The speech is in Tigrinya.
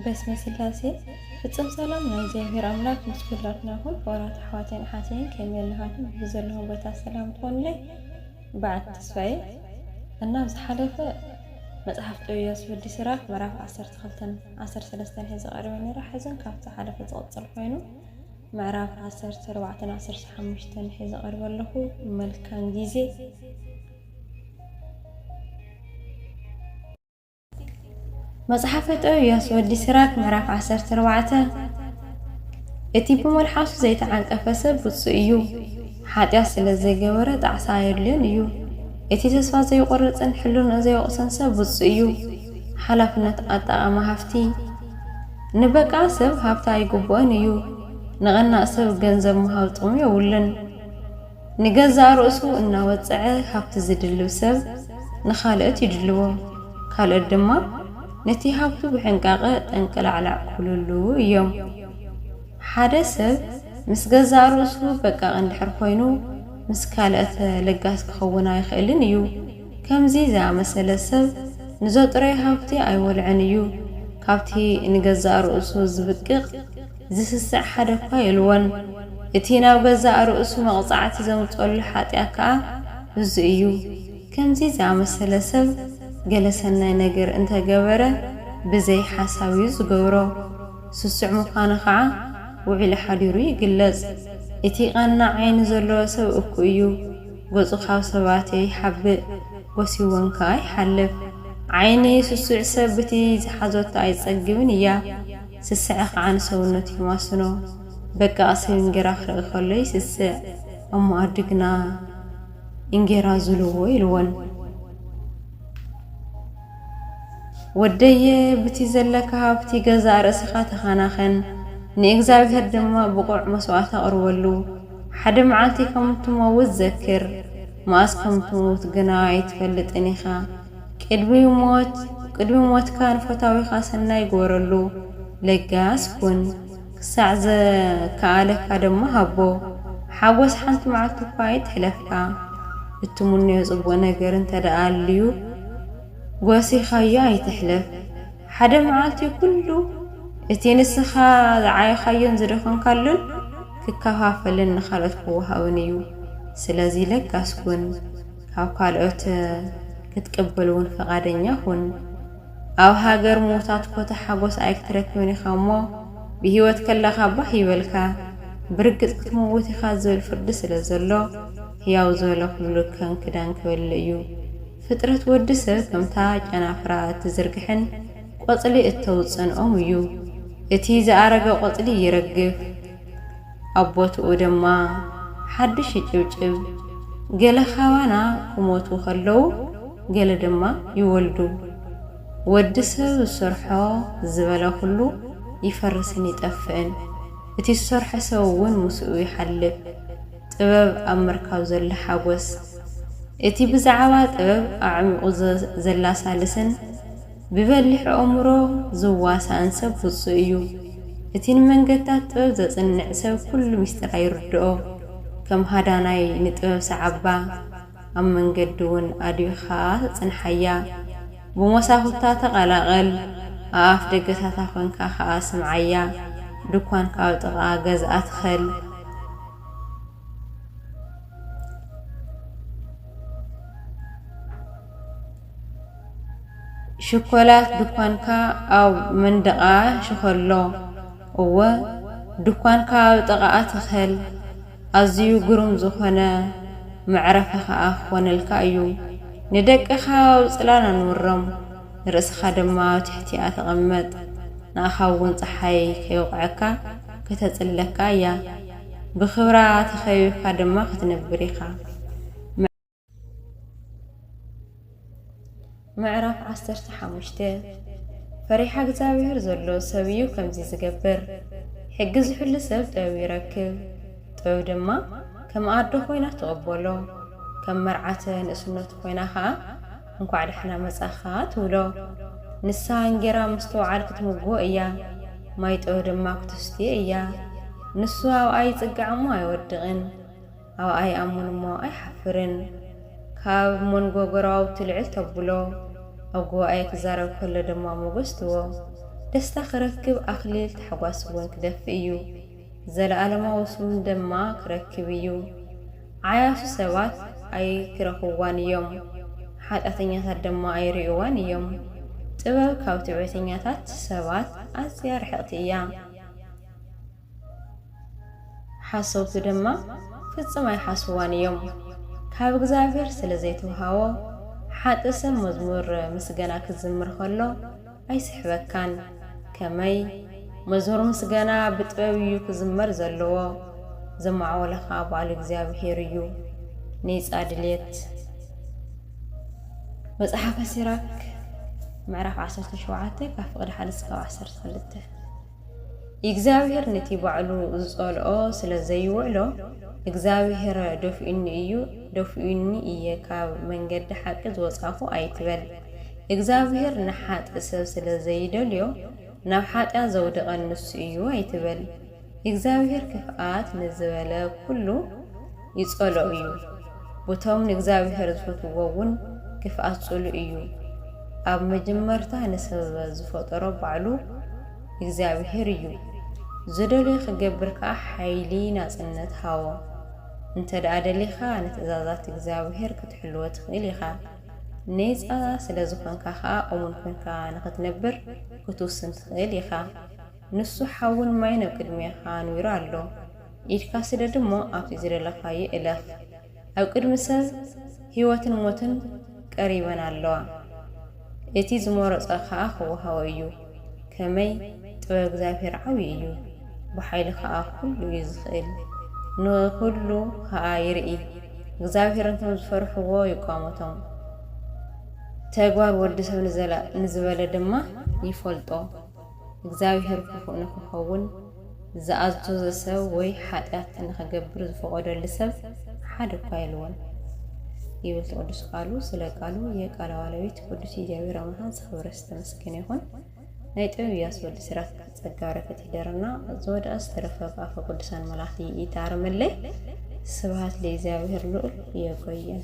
በስመ ስላሴ ፍጽም ሰላም ናይ እግዚኣብሔር ኣምላክ ምስ ኩላትና ይኹን ክቡራት ኣሕዋተይን ኣሓተይን ከመይ ኣለኻትም ብዘለኹም ቦታ ሰላም ትኾኑለይ በዓት ተስፋዬ እና ኣብ ዝሓለፈ መጽሓፍ ጥበብ ወዲ ስራክ ምዕራፍ 12 13 ሒዘ ቀሪበ ነይረ ሕዝን ካብ ዝሓለፈ ዝቕጽል ኮይኑ ምዕራፍ 14 15 ሒዘ ቀሪበ ኣለኹ መልካም ግዜ መጽሓፈ ጦብያስ ወዲ ሲራክ ምዕራፍ ዓሰርተ ኣርባዕተ እቲ ብመልሓሱ ዘይተዓንቀፈ ሰብ ብፁእ እዩ፣ ሓጢኣት ስለ ዘይገበረ ጣዕሳ ኣየድልዮን እዩ። እቲ ተስፋ ዘይቆርጽን ሕልንኡ ዘይወቕስን ሰብ ብፁእ እዩ። ሓላፍነት ኣጠቓማ ሃፍቲ ንበቃ ሰብ ሃብቲ ኣይግብኦን እዩ፣ ንቐናእ ሰብ ገንዘብ ምሃብ ጥቕሙ የብሉን። ንገዛእ ርእሱ እናወጽዐ ሃብቲ ዝድልብ ሰብ ንኻልኦት ይድልቦም፣ ካልኦት ድማ ነቲ ሃብቱ ብሕንቃቐ ጠንቅላዕላዕ ክብሉሉ እዮም። ሓደ ሰብ ምስ ገዛእ ርእሱ በቃቕ እንድሕር ኮይኑ ምስ ካልኦት ለጋስ ክኸውን ኣይኽእልን እዩ። ከምዚ ዝኣመሰለ ሰብ ንዘጥረዮ ሃብቲ ኣይወልዕን እዩ፣ ካብቲ ንገዛእ ርእሱ ዝብቅቕ ዚስስዕ ሓደ'ኳ የልቦን። እቲ ናብ ገዛእ ርእሱ መቕጻዕቲ ዘምጽኦሉ ሓጢኣት ከኣ እዙይ እዩ። ከምዚ ዝኣመሰለ ሰብ ገለ ሠናይ ነገር እንተ ገበረ ብዘይ ሓሳብ እዩ ዚገብሮ። ስሱዕ ምዃኑ ኸኣ ውዒሉ ሓዲሩ ይግለጽ። እቲ ቐናዕ ዓይኒ ዘለዎ ሰብ እኩ እዩ። ገጹ ኻብ ሰባት ይሓብእ፣ ጐስይዎን ከኣ ይሓልፍ። ዓይኒ ስሱዕ ሰብ ብቲ ዝሓዘቶ ኣይትጸግብን እያ። ስስዐ ኸዓ ንሰውነት የማስኖ። በቃ ሰብ እንጌራ ክርኢ ከሎ ይስስዕ። እሞ ኣዱ ግና እንጌራ ዙልዎ ኢልወን። ወደየ ብቲ ዘለካ ሃብቲ ገዛእ ርእስኻ ተኻናኸን፣ ንእግዚኣብሄር ድማ ብቑዕ መስዋእቲ ኣቕርበሉ። ሓደ መዓልቲ ከም እትመውት ዘክር፣ መኣስ ከም እትመውት ግና ኣይትፈልጥን ኢኻ። ቅድሚ ሞት ቅድሚ ሞትካ ንፈታዊኻ ሰናይ ግበረሉ፣ ለጋስ ኩን፣ ክሳዕ ዝከኣለካ ድማ ሃቦ። ሓጐስ ሓንቲ መዓልቲ'ኳ ኣይትሕለፍካ። እትምነዮ ጽቡቕ ነገር እንተደኣ ኣልዩ ጐሲኻዮ ኣይትሕለፍ። ሓደ መዓልቲ ኩሉ እቲ ንስኻ ዝዓየኻዮን ዝደኸምካሉን ክከፋፈልን ንኻልኦት ክወሃብን እዩ። ስለዚ ለጋስ ኩን። ካብ ካልኦት ክትቅበል እውን ፈቓደኛ ኹን። ኣብ ሃገር ምዉታት ኮታ ሓጎስ ኣይክትረክብን ኢኻ እሞ፣ ብህይወት ከለኻ ባህ ይበልካ፣ ብርግጽ ክትመውት ኢኻ ዝብል ፍርዲ ስለ ዘሎ፣ ህያው ዝበለ ኹሉ ከም ክዳን ክበልእ እዩ። ፍጥረት ወዲ ሰብ ከምታ ጨናፍራ እትዝርግሕን ቆጽሊ እተውጽእን ኦም እዩ። እቲ ዝኣረገ ቆጽሊ ይረግፍ። ኣብ ቦትኡ ድማ ሓድሽ ይጭብጭብ። ገለ ካባና ክሞቱ ከለዉ ገለ ድማ ይወልዱ። ወዲ ሰብ ዝሰርሖ ዝበለ ኩሉ ይፈርስን ይጠፍእን። እቲ ዝሰርሖ ሰብ ውን ምስኡ ይሓልፍ። ጥበብ ኣብ ምርካብ ዘሎ ሓጎስ። እቲ ብዛዕባ ጥበብ ኣዕሚቑ ዘላሳልስን ብበሊሕ ኣእምሮ ዝዋሳእን ሰብ ብጹእ እዩ። እቲ ንመንገድታት ጥበብ ዘጽንዕ ሰብ ኩሉ ምስጢር ኣይርድኦ። ከም ሃዳናይ ንጥበብ ሰዓባ፣ ኣብ መንገዲ ውን ኣድቢኻ ጽንሓያ። ብሞሳኹታ ተቐላቐል፣ ኣብ ኣፍ ደገታታ ኮንካ ከኣ ስምዓያ። ድኳንካ ኣብ ጥቓ ገዝኣ ትኸል። ሽኮላት ድኳንካ ኣብ መንደቓ ሽኸሎ፣ እወ፣ ድኳንካ ኣብ ጥቓኣ ትኸል፣ ኣዝዩ ግሩም ዝዀነ መዕረፊ ኸኣ ኪዀነልካ እዩ። ንደቅኻ ኣብ ጽላል ኣንብሮም፣ ንርእስኻ ድማ ኣብ ትሕቲኣ ተቐመጥ፣ ንኣኻ እውን ጸሓይ ከይውቕዐካ ከተጽልለካ እያ፣ ብኽብራ ተኸቢብካ ድማ ኽትነብር ኢኻ። ምዕራፍ ዓሰርተ ሓሙሽተ ፈሪሓ እግዚኣብሔር ዘሎ ሰብ እዩ ከምዚ ዝገብር፣ ሕጊ ዝሕሉ ሰብ ጥበብ ይረክብ፣ ጥበብ ድማ ከም ኣደ ዀይና ትቕበሎ፣ ከም መርዓተ ንእስነቱ ዀይና ኸኣ እንኳዕ ደሓና መጻእካ ትብሎ። ንሳ እንጌራ ምስትውዓል ክትምግቦ እያ፣ ማይ ጥበብ ድማ ክተስትዮ እያ፣ ንሱ ኣብኣ ይጽጋዕ እሞ ኣይወድቕን። ኣብኣ ይኣምን እሞ ኣይሓፍርን። ካብ መንጎ ጎረባብቱ ልዕል ተብሎ፣ ኣብ ጉባኤ ክዛረብ ከሎ ድማ ሞገስ ትቦ። ደስታ ክረክብ ኣኽሊል ታሕጓስ እውን ክደፍእ እዩ። ዘለኣለማዊ ስም ድማ ክረክብ እዩ። ዓያሱ ሰባት ኣይክረኽብዋን እዮም፣ ሓጢኣተኛታት ድማ ኣይርእይዋን እዮም። ጥበብ ካብ ትዕቢተኛታት ሰባት ኣዝያ ርሕቕቲ እያ። ሓሰውቲ ድማ ፍጽም ኣይሓስውዋን እዮም ካብ እግዚኣብሔር ስለ ዘይትውሃቦ ሓጥእ ሰብ መዝሙር ምስገና ክዝምር ከሎ ኣይስሕበካን ከመይ መዝሙር ምስገና ብጥበብ እዩ ክዝመር ዘለዎ ዘማዕወለ ከኣ ባዕሉ እግዚኣብሔር እዩ ኔጻ ድልየት መጽሓፈ ሲራክ ምዕራፍ ዓሰርተ ሸውዓተ ካብ ፍቅዲ ሓደ እስካብ ዓሰርተ ክልተ። እግዚኣብሄር ነቲ ባዕሉ ዝጸልኦ ስለ ዘይውዕሎ፣ እግዚኣብሄር ደፊኡኒ እዩ፣ ደፊኡኒ እየ፣ ካብ መንገዲ ሓቂ ዝወጻኹ ኣይትበል። እግዚኣብሄር ንሓጥእ ሰብ ስለ ዘይደልዮ፣ ናብ ሓጢኣት ዘውደቐኒ ንሱ እዩ ኣይትበል። እግዚኣብሄር ክፍኣት ንዝበለ ኩሉ፣ ይጸሎ እዩ ቡቶም ንእግዚኣብሄር ዝፈትውዎ እውን ግፍኣት ጽሉ እዩ ኣብ መጀመርታ ንሰበ ዝፈጠሮ ባዕሉ እግዚኣብሄር እዩ ዝደልዮ ክገብር ከኣ ሓይሊ ናጽነት ሃቦ እንተደኣ ደሊኻ ንትእዛዛት እግዚኣብሄር ክትሕልዎ ትኽእል ኢኻ ኔጻ ስለ ዝኾንካ ከኣ እሙን ኮንካ ንኽትነብር ክትውስን ትኽእል ኢኻ። ንሱ ሓውን ማይን ኣብ ቅድሜኻ ኣንዊሩ ኣሎ፣ ኢድካ ስደድ እሞ ኣብቲ ዝደለኻዮ እለኽ። ኣብ ቅድሚ ሰብ ህይወትን ሞትን ቀሪበን ኣለዋ፣ እቲ ዝመረጾ ኸኣ ኽወሃቦ እዩ። ከመይ! ጥበብ እግዚኣብሄር ዓብዪ እዩ፣ ብሓይሉ ኸኣ ዅሉ እዩ ዚኽእል፣ ንዅሉ ኸኣ ይርኢ። እግዚኣብሄር ነቶም ዝፈርሕዎ ይቋመቶም፣ ተግባር ወዲ ሰብ ንዘላእ ንዝበለ ድማ ይፈልጦ። እግዚኣብሄር ክፉእ ንኽኸውን ዝኣዘዞ ሰብ ወይ ሓጢኣት ንኽገብር ዝፈቐደሉ ሰብ ሓደ እኳ የልቦን ይብል እቲ ቅዱስ ቃሉ። ስለ ቃሉ የቃለ ባለቤት ቅዱስ እግዚኣብሄር ኣምላኽን ዝኸበረ ዝተመስገነ ይኹን። ናይ ጥበብ ኢያሱ ወዲ ሲራክ ጸጋ በረከት ይደረና ዝወደኣ ዝተረፈ ብኣፈ ቅዱሳን መላእክቲ ይታረመለይ ስብሃት ለእግዚኣብሔር ልዑል የቆየን።